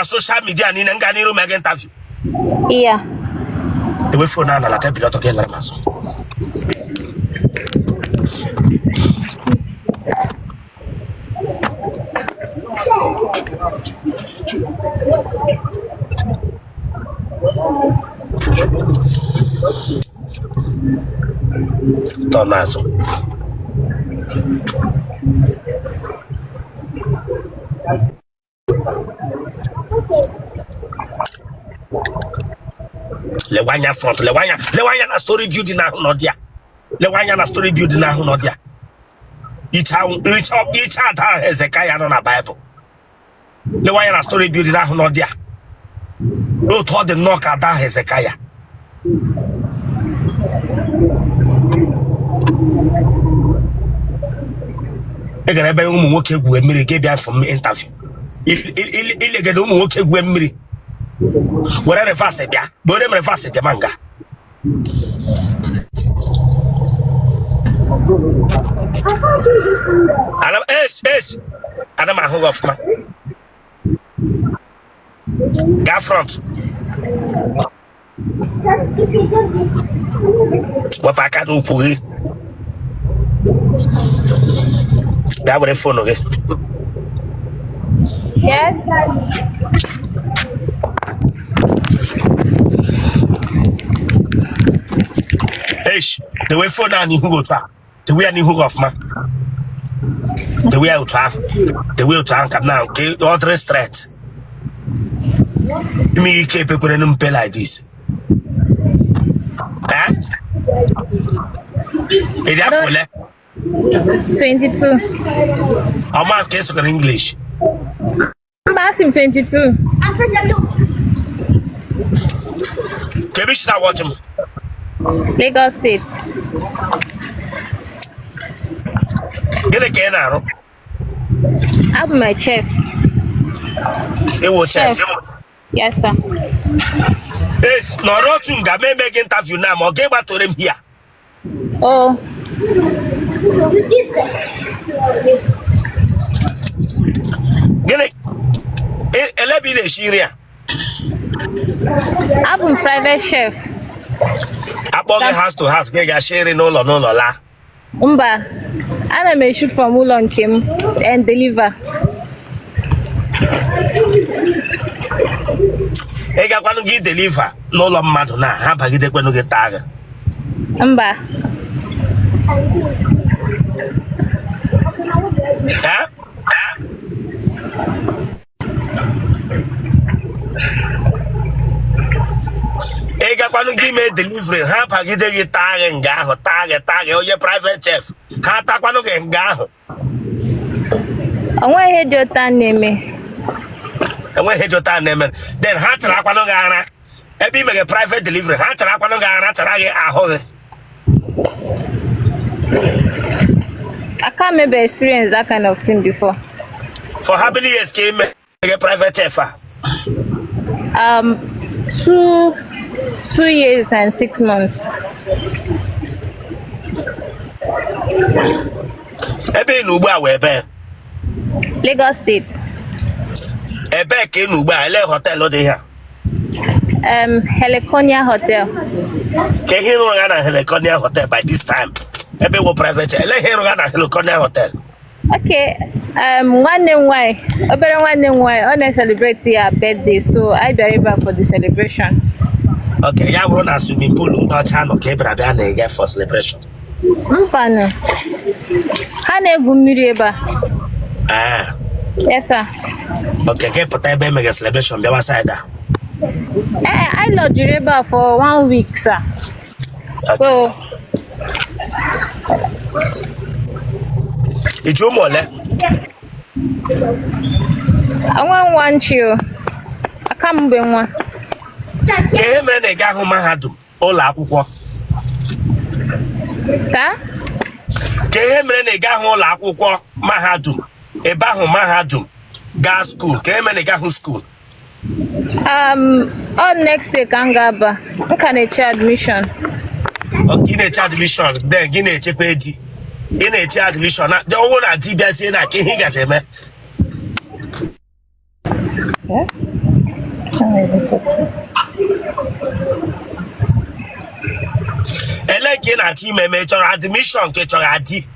na social media niile nga n'iru mega interview yeah dewe phone a n'ala table ọtọ gị lara n'azụ tọ n'azụ lewe anya front lewe anya na story building ahụ nọ there lewe anya na story building ahụ nọ there iche ada Hezekaya nọ na Baịbụl lewe anya na story building ahụ nọ there n'otu ọ dị nnọọ ka ada Hezekaya ị gara ebe ụmụ nwoke gwuwe mmiri gị bịa for interview Il- il- il- ilegede ụmụ nwoke gwuwe mmiri were reverse bịa ma were reverse bịa ma nga ana m es es ana m ahụ gị ọfụma gaa front wepụ aka n'ukwu gị bịa were phone gị Yes. esh dewe phone a n'ihu gị otu a dewe ya n'ihu gị ọfụma dewe ya otu ahụ dewe otu ahụ ka m na-ahụ ka ọ dịrị straight ime ihe ike epekwere na mpe like this Eh? ị dị afọ ole 22. ọ mụ ka ị sụgara English Mba, asị m 22. Kee ebe i si na watch m. Lagos State. Gịnị ka ị na-arụ? Abụ m chef. Ewo chef. Yes, sir. Yes, nọrọ otu nga m mee gị interview na ma ọ ga-egbatore m here. Oh. gịnị e- ele ebe ị na-esi nri a Abụ m private chef. a kpọọ gị house to house ka ị ga-esi nri n'ụlọ n'ụlọ laa Mba, ana m eshi from ụlọ nke m and deliver. ị gakwanụ gị deliver n'ụlọ mmadụ na ha bagidekwanụ gị taa gị mba Eh? ị gakwanụ gị mee delivery ha bagide gị taa gị nga ahụ taa gị taa gị onye private chef ha takwanụ gị nga ahụ o nwe ihe dị otu a na-eme e nwe ihe dị otu a na-eme then ha tarakwanụ gị ara ebe ị meghe private delivery ha tarakwanụ gị ara tara gị ahụ gị I can't remember experience that kind of thing before. for how many years ka ị mee gị private chef a um two two years and six months ebe ị nọ ugbu a wụ ebee Lagos State ebee ka ị nọ ugbu a ele hotel dị ha um Heliconia hotel kee ihe ị rụga na Heliconia hotel by this time ebe ị wụ private ele ihe ị rụga na Heliconia hotel okay um, nwanne m nwanyị obere nwanne m nwanyị ọ na-ecelebrate ya birthday so anyị bịara ebe a for the celebration okay ya wụrụ na swimming pool ndị ọcha nọ ka ị bịara bịa na-ege for celebration mbanụ ha na-egwu mmiri ebe a Ah, yes sir okay gị pụta ebe e mega celebration bịawa side a ee anyị lodgiri ebe a for one week sir so ị ji ụmụ ole nwa nwa nchi o a ka m bụ nwa kee ihe mere na ị gahụ mahadum ụlọ akwụkwọ sir kee ihe mere na ị gaghị ụlọ akwụkwọ mahadum ebe ahụ mahadum gaa school kee ihe mere na ị gaghị school Um, ọ next year ka m ga-aba m ka na-eche admission gị na-eche admission then gị na-echekwa di ị na-eche admission a ọ wụrụ na di bịazie na kee ihe ị ga-eme ele nke ị na-achọ ime ma ị chọrọ admission ka ị chọrọ di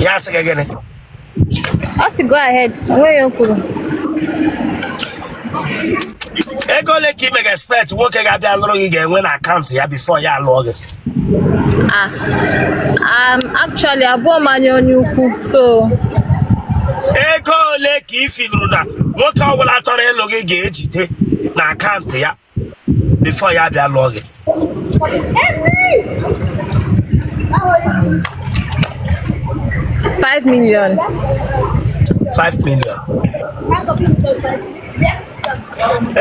ya asị gị gịnị ọ sị go ahead onwe ya o kwuru ego ole ka ị mega expect nwoke ga-abịa lụrụ gị ga-enwe na akaụntụ ya before ya alụọ gị ah um, actually abụhọ m anya onye ukwu so ego ole ka ị feeluru na nwoke ọbụla chọrọ ịlụ gị ga-ejide na akaụntụ ya before ya abịa lụọ gị Five million. five million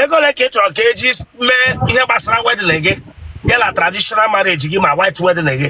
ego ole ka ị chọrọ ka e ji mee ihe gbasara wedding gị ya na traditional marriage gị ma white wedding gị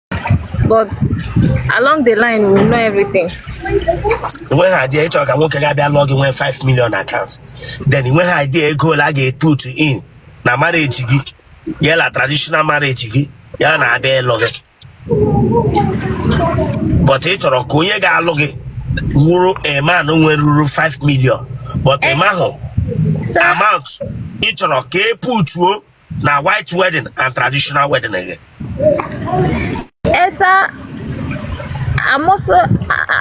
but along the line we'll know everything. nwe ha idea ị chọrọ ka nwoke ga-abịa lụọ gị nwee 5 million account then i nweha idea ego ole a ga-eput in na marriage gị ya la traditional marriage gị ya na-abịa ịlụ gị but ị chọrọ ka onye ga-alụ gị wụrụ a man nwere ruru 5 million but ị mahụ amount ị chọrọ ka e putuo na white wedding and traditional wedding gị ee sir i'm also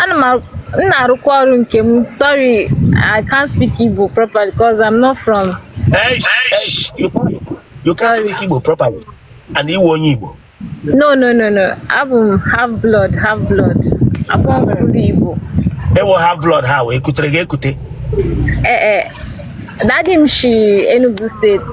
ana m na-arụkwa ọrụ nke m sorry i can't speak igbo properly because i'm not from eish, eish, you, you can't speak igbo properly and ị wụ onye igbo no no no no abụ m half blood half blood abụọ m full igbo ị wụ half blood how e kutere gị ekute ee eh, eh. daddy m si enugu state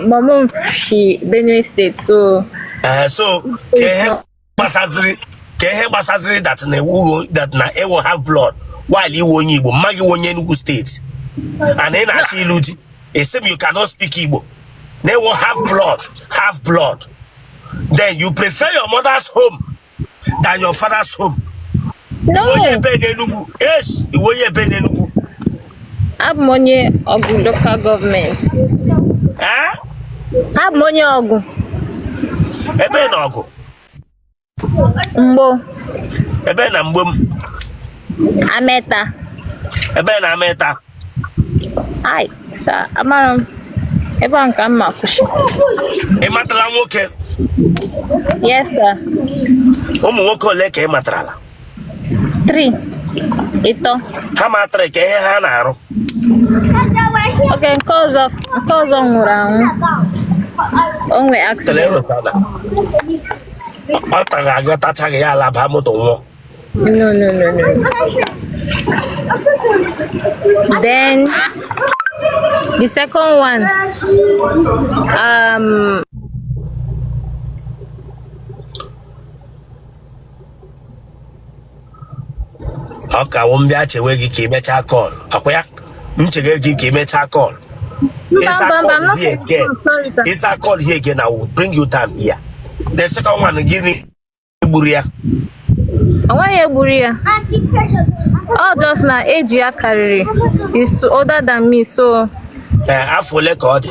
mom m si benue state so ee eh, so ka ihe gbasaziri ka ihe gbasaziri that na ị wụghị that na ị wụ half blood while ị wụ onye igbo mpa gị wụ onye enugu state and ị na-achọ ịlụ di ị sị m you cannot speak igbo Ị wụ half blood, half blood. Then you prefer your mother's home than your father's home. No. Ị wụ onye ebe n'Enugu. Yes, ị wụ onye ebe n'Enugu. Abụ m onye Awgu local government. Eh? Abụ m onye Awgu. Ebe na Awgu. mgbowo ebe na mgbowo ameta ebe na ameta ai sir amara m ebe a ka m ma kwụsị ị matala nwoke yes sir ụmụ nwoke ole ka ị matarala Three. Ịtọ. Ha ma three ka ihe ha na-arụ. Okay, nke ọzọ nke ọzọ nwụrụ anwụ. O nwee accident. Ọ taghị aga tachaa gị ya alaba moto nwụọ. No, no, no, no. Then the second one um okay ọ wụ m bịa chewe gị ka i mechaa call akwa ya m chege gị ka i mechaa call Mba, ị saa mba, mba, call I'm not here again confused. Sorry, sir. ị saa call here again I will bring you down here the second one gịnị gburu ya Ọ nweghị ihe gburu ya. Ọ just na age ya karịrị he's older than me so Ee, afọ ole ka ọ dị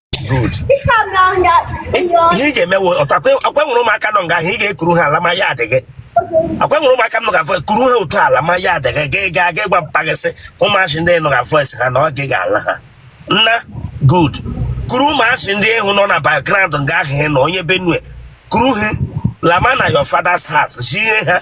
good ihe ị ga-emewe ọtụ akwa nwere ụmụaka nọ nga ahụ ị ga-ekuru ha ala ma ya adịghị akwa nwere ụmụaka nga ahụ kuru ha otu ala ma ya adịghị gị ga aga ịgwa mpa gị sị ụmụazị ndị nụga voice ha na ọ gị ga-ala ha nna good kuru ụmụazị ndị ahụ nọ na background nga ahụ na onye Benue kuru ha lama na your father's house jie ha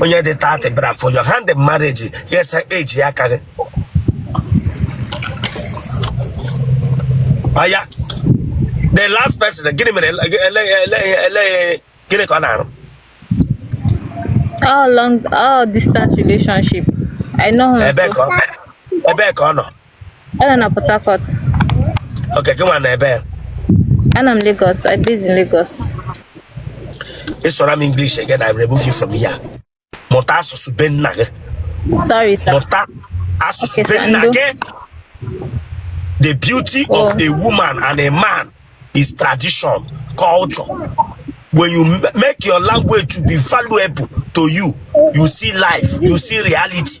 onye dị 30 bịara for your hand in marriage ya ị sị age ya aka gị ọya the last person gịnị mere ele ele ele ele gịnị ka ọ na-arụ ọ long distance relationship i know him ebee so ka ọ ebee ka ọ nọ Ọ nọ na Port Harcourt. Okay, gị nwa nọ ebee? Anọ m Lagos. I based in Lagos. Ị sụọrọ m English again, I remove you from here. Mụta asụsụ be nna gị. Sorry, sir. Mụta asụsụ be nna gị. The beauty oh. of a woman and a man is tradition, culture. When you make your language to be valuable to you, you see life, you see reality.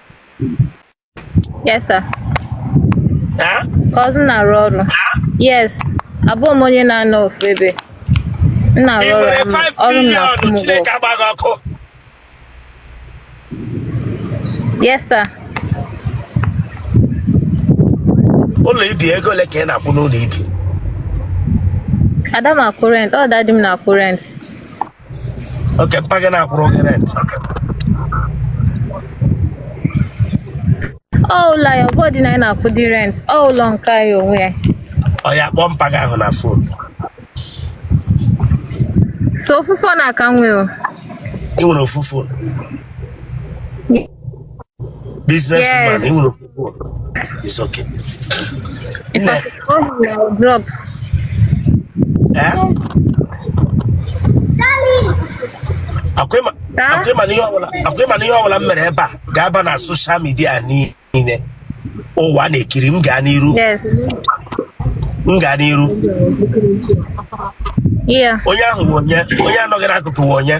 Yes, sir. Huh? 'Cause ị na-arụ ọrụ. Yes. Abụ m onye na-anọ ofu ebe. M na-arụ ọrụ m ọrụ m na-akwụ m ụgwọ. Yes, sir. Ụlọ i bi ego ole ka ị na-akwụ n'ụlọ ibi? Ada m akwụ rent, ọ daddy m na-akwụ rent. okay mpa gị na-akwụrụ gị rent ọ ụlọ ya ọ bụdị na anyị na-akwụdị rent ọ ụlọ nke ya onwe ya ọya kpọọ mpa gị ahụ na phone sọ ofu phone a ka m nwe o ị nwere ofu phone business Yes. man ị nwere ofu It's okay. If I could call him, I would drop. Eh? Akwa ị ma, Huh? akwa ị ma na ihe ọbụla, akwa ị ma na ihe ọbụla m mere ebe a ga-aba na social media niile. Ụwa na-ekiri m gaa n'iru, Yes. m gaa n'iru. Yeah. Onye ahụ wụ onye, onye a nọ gị n'akụkụ wụ onye.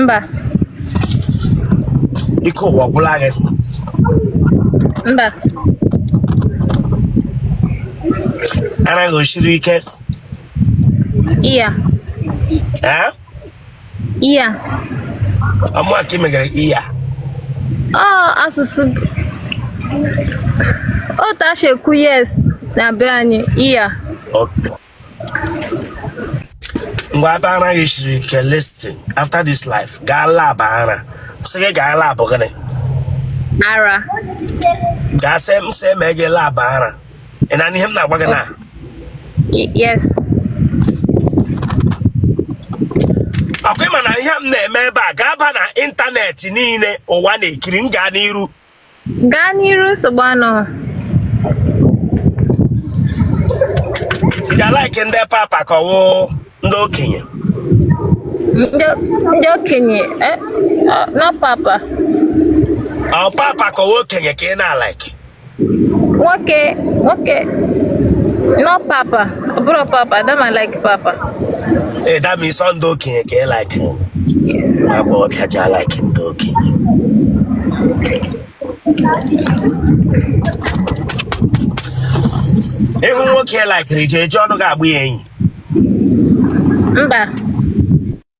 mba ike ụwa agwụla gị mba ara gị o siri ike iya ee iya ọmụa ka ị megara iya ọ asụsụ otu a si ekwu yes na be anyị iya ngwa ebe ara gị siri ike listen after this life gaa lab ara sị gị gaa lab gịnị ara gaa sị m sị mee gị lab ara ị na-anụ ihe m na-agwa gị na Y- yes ọkwa ị ma na ihe m na-eme ebe a ga-aba na ịntanetị niile ụwa na-ekiri m gaa n'iru gaa n'iru nsogbu anọ ị ja-alike ndị papa ka ọwụ ndị okenye ndị okenye eh, ah, no papa ọ papa ka ọwụ okenye ka ị na-alike nwoke nwoke no papa Ọ bụrụ papa, adịghị m alike papa. Ee, that means ọ ndị okenye ka ị like. Nwa agbọghọbịa ji like ndị okenye. Ị hụ nwoke ị likere ị je eji ọnụ gị agba ya enyi. Mba.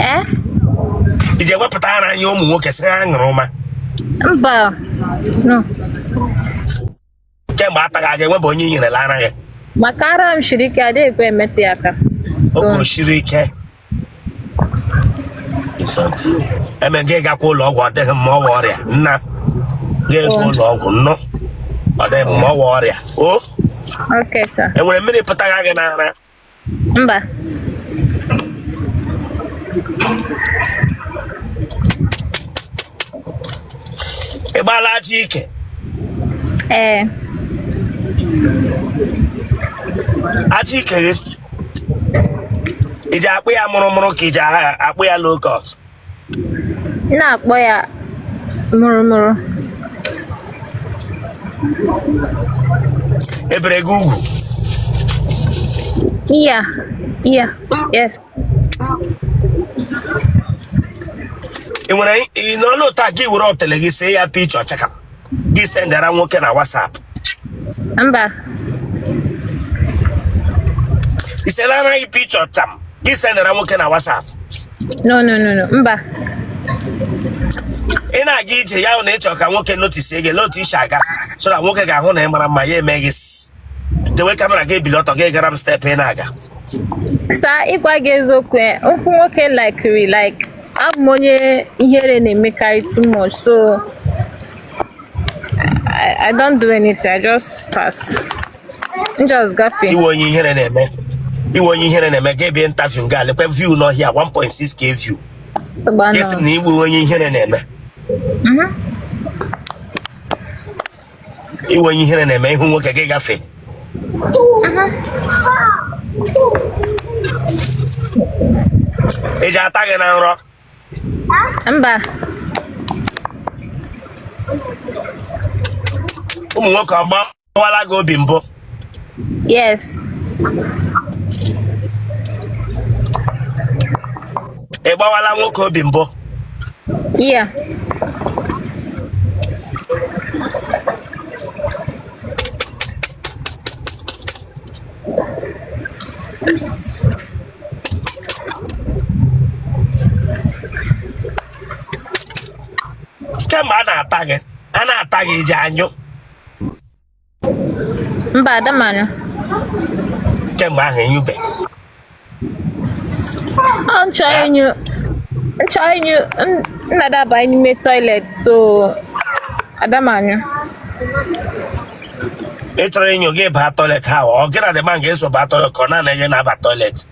ee eh? ị ga-ewepụta ara enye ụmụ nwoke sị ha ṅụrụma mba kemgbe a taghị aga enwebụ onye i nyerela ara gị maka ara m shiri ike adịghị ekwe emetụ ya aka oke o siri ike eme gị gakwa ụlọ ọgwụ ọ dịghị mma ọ wụ ọrịa na gị gaa ụlọ ọgwụ nnọ ọ dịghị mma ọ wụ ọrịa o nwere mmiri pụtara gị n'ara mba ị gbaala ajị ike ee ajị ike gị ị ji akpụ ya mụrụmụrụ ka ị ji akpụ ya low cut m na-akpụ ya mụrụmụrụ e bere gị ugwu iya iya yes ị nwere ị nọ n'ụta gị were otele gị see ya picture ọchaka gị sendara nwoke na WhatsApp mba i seela onwe gị picture tam gị sendara nwoke na WhatsApp no no no no mba ị na-aga ije ya hụ na ịchọ ka nwoke notice gị lee otu i si aga so na nwoke ga-ahụ na ị mara mma ya eme gị s- dewe kamera gị ebili ọtọ gị gara m step ị na-aga saa ịgwa gị eziokwu eh, ofu nwoke likiri like abụ m onye ihere na-emekarị too much so I, I don't do anything I just pass m just gafee ị wụ onye ihere na-eme ị wụ onye ihere na-eme gị ebie interview nga lekwa view nọ here 1.6k view sogba gị esi m nọ na ị wụ onye ihere na-eme Mhm. ị wụ onye ihere na-eme ị hụ nwoke gị gafe e ji ata gị na nrọ mba ụmụ nwoke ọ gbawala gị obi mbụ Yes. Ị gbawala nwoke obi mbụ? Yeah. kemgbe a na-ata gị a na-ata gị i ji anyụ mba ada m anyụ kemgbe ahụ ị nyụbe ọ chọrọ ịnyụ chọrọ ịnyụ m na-adaba n'ime toilet so ada m anyụ ị chọrọ ịnyụ gị baa toilet ha ọ gị na the man ga-eso baa toilet ka ọ naanị gị na-aba toilet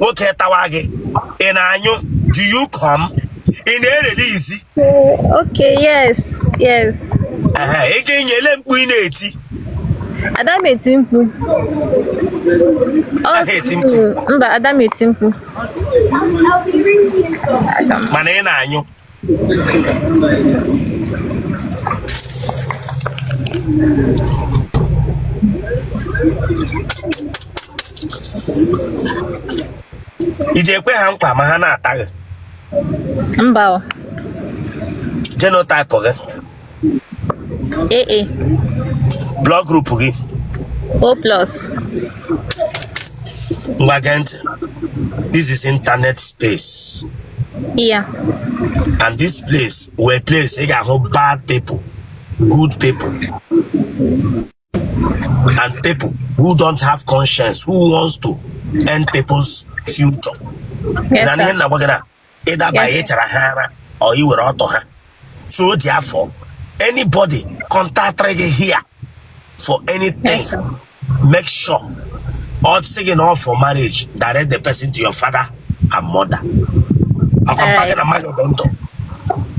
nwoke tawa gị ị na-anyụ do you come ị na-erelease okay yes yes ị ga-enyele mkpu ị na-eti ada m eti mkpu mba ada m eti mkpu mana ị na-anyụ i ji ekwe ha nkwa ma ha na-ata gị mba o. genotype gị AA. blood group gị O plus ngwa gee ntị this is internet space yeah and this place wụ place ị ga-ahụ bad people good people and people who don't have conscience who wants to end people's future Yes, na ihe sir. m na-agwa gị na ịdaba Yes, sir. ịchara ha ara or iwere ọtọ ha so therefore anybody contact gị here for anything Yes, sir. make sure ọ sị gị na ọ for marriage direct the person to your father and mother. I'm Alright. talking a man of London.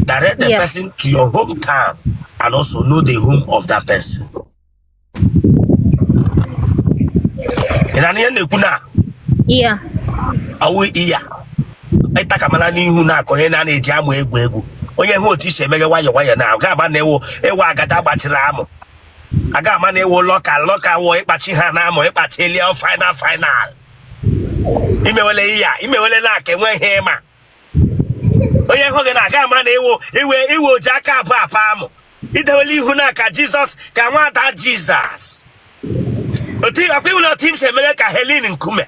Direct the Yeah. person to your hometown and also know the home of that person. Ị nụ ihe m na-ekwu na Yeah. awụ iya ịta ka mara n'ihu na aka onye na na-eji amụ egwu egwu onye hụ otu isi emeghe nwayọ nwayọ na a ga-ama na ị wụ ị wụ agada gbachiri amụ a ga-ama na ị wụ lọka lọka wụ ịkpachi ha na amụ ịkpachi elie final final imewele ihe a imewele na aka enwe ihe ị ma onye hụ gị na a ga-ama na ị wụ iwe iwe oji aka abụọ apa amụ idewele ihu na aka jizọs ka nwada jizọs otu akwa iwele otu im si emele ka helin nkume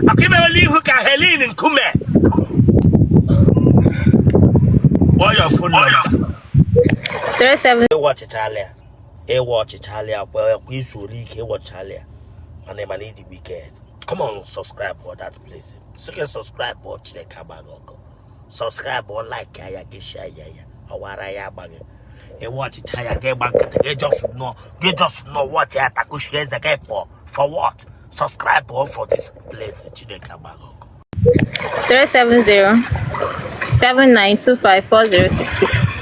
akwa imewele ihu ka helin nkume kpọọ your phone number 37 ị watchịchala ya ị watchịchala ya kwa i zuole ike ị watchala ya mana ị ma na ị dị wicked come on subscribe for that place sike subscribe ọ chineke agba gị ọkụ subscribe ọ like ya ya gị share ya ya ọwara ya agba gị ị watchịcha ya gị gba nkịtị gị just nọ gị just nọ watch ya takushi eze gị for for what subscribe ọ for this place chineke agba gị ọkụ 370 7925 4066